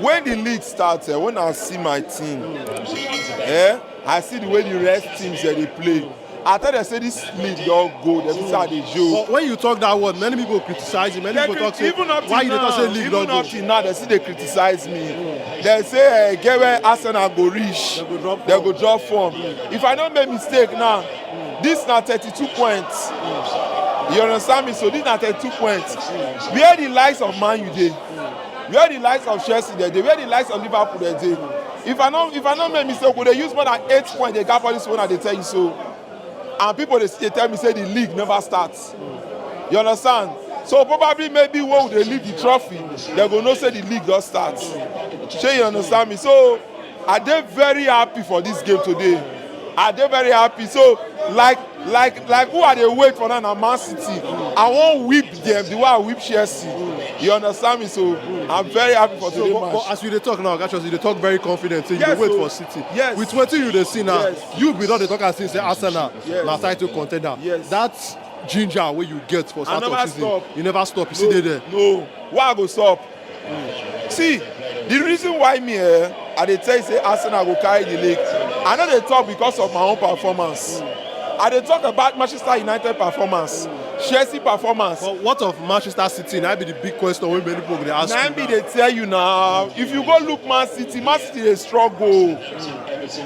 When the league start, eh, when I see my team, eh, I see the way the rest teams eh, they play. I tell them say this league don go, dem see how they show. But when you talk that word, many people criticize you. Many They people talk say, even up till why you dey now, talk say league even don up go? till now, they still dey criticize me. They say eh, get where Arsenal go reach, They go drop they go drop form. If I don't make mistake now, this na thirty-two points. You understand me? So this na thirty-two points. Where the likes of Man U dey? where the likes of chelsea dem dey where the likes of liverpool dem dey if i no if i no make mistake we dey use more than eight points dey gap all this one i dey tell you so and people dey dey tell me say the league never start you understand so probably maybe when we dey leave the trophy dem go know say the league don start shey you understand me so i dey very happy for this game today i dey very happy so like like like who i dey wait for now na man city i wan whip dem the way i whip chelsea you understand me so i'm very happy for today so, but, match. but as you dey talk now oga you dey talk very confident say you yes, dey wait so, for city yes. with wetin you dey see now yes. you be don dey talk as if say arsenal yes. na title contender yes. that ginger wey you get for start of season stop. you never stop you no, still dey there. no why i go stop see the reason why me eh, i dey tell you say arsenal go carry the league i no dey talk because of my own performance i dey talk about manchester united performance chelsea performance But what of Manchester City? Now be the big question wey many people go dey ask na you. im be dey tell you na if you go look man city man city dey struggle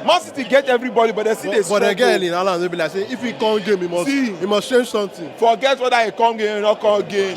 man city get everybody but dem still dey But, but struggle again, in Alan, they be like say if he come game, he must See. he must change something. forget whether e come game or no come game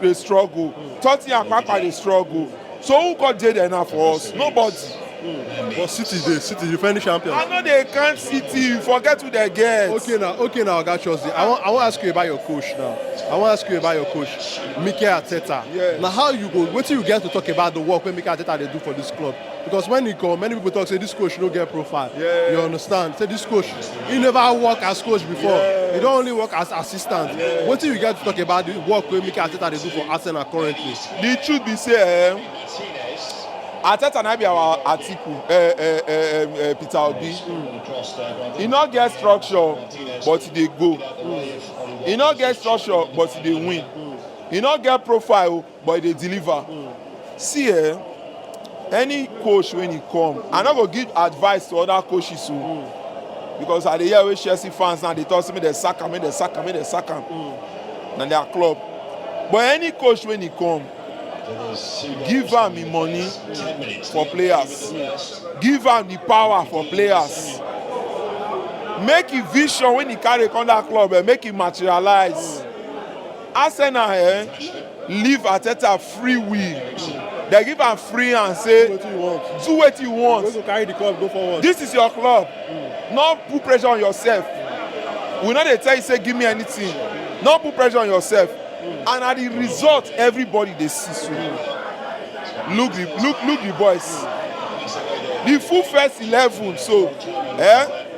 dey struggle tottenham papa dey struggle so who come dey there now for us nobody. Mm. but city dey city defending champions. i no dey count city forget who dey get. okay na okay na oga chelsea i wan i wan ask you about your coach now i wan ask you about your coach mikel arteta. yes na how you go wetin you get to talk about the work wey mikel arteta dey do for this club. because when he come many people talk say this coach no get profile yeah. you understand say this coach he never work as coach before yeah. he don only work as assistant yeah. wetin you get to talk about the work wey mikel arteta dey do for arsenal currently. the truth be say um, arteta na be our atiku uh, uh, uh, uh, peter obi mm. he no get structure but he dey go mm. he no get structure but he dey win mm. he no get profile But e dey deliver. See eh, any coach when e come, I no go give advice to other coaches o. Because I dey hear wey Chelsea fans now dey talk say make dem sack am, make dem sack am, make dem sack am. Na their club. But any coach when e come, give am im money for players, give am the power for players. Make im vision when e carry come that club eh, make e materialize. Arsenal um leave Arteta free will, dem give am free hand say Wetin you want? do wetin you want. Wey go carry the club go forward. This is your club. No put pressure on yourself. We no dey tell you say give me anything. No put pressure on yourself. And na the result everybody dey see so. Look the look look the boys. The full first eleven so eh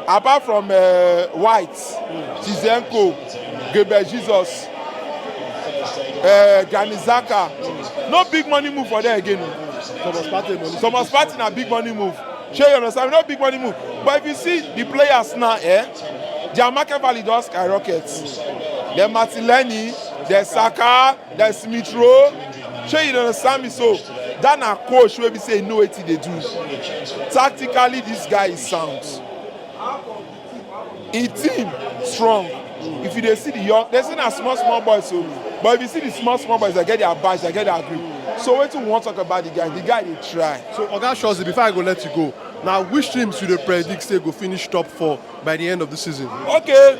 apart from uh, White Zizenko, Gabriel Jesus, uh, Granit Xhaka. No big money move for there again. o. Thomas Partey money. Thomas Partey na big money move. Shey you understand? No big money move. But if you see the players now, eh, their market value don skyrocket. Then Martinelli, then Saka, then Smith Rowe. Shey you understand me so? That na coach wey be say he know wetin he dey do. Tactically, this guy is sound. e team strong if you dey see the young dey say na small small boys o but if you see the small small boys dey get their badge dey get their grip so wetin we wan talk about the guy the guy dey try. so oga shozi before i go let you go na which teams you dey predict say go finish top four by the end of the season. okay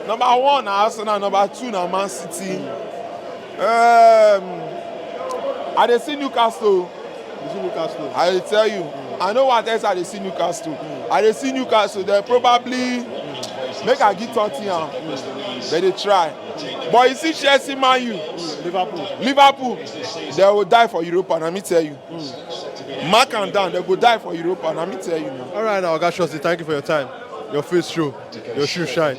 number one na arsenal number two na man city um, i dey see newcastle. You see Newcastle. I dey tell you, mm. I know what else I dey see Newcastle. Mm. I dey see Newcastle. They probably mm. make I give Tottenham, mm. but they try. But you see Chelsea, Man U, mm. Liverpool, Liverpool, they will die for Europa. And let me tell you, mm. mark and down, they go die for Europa. And let me tell you now. All right, now, Oga Shosty, thank you for your time. Your face show, your shoe shine.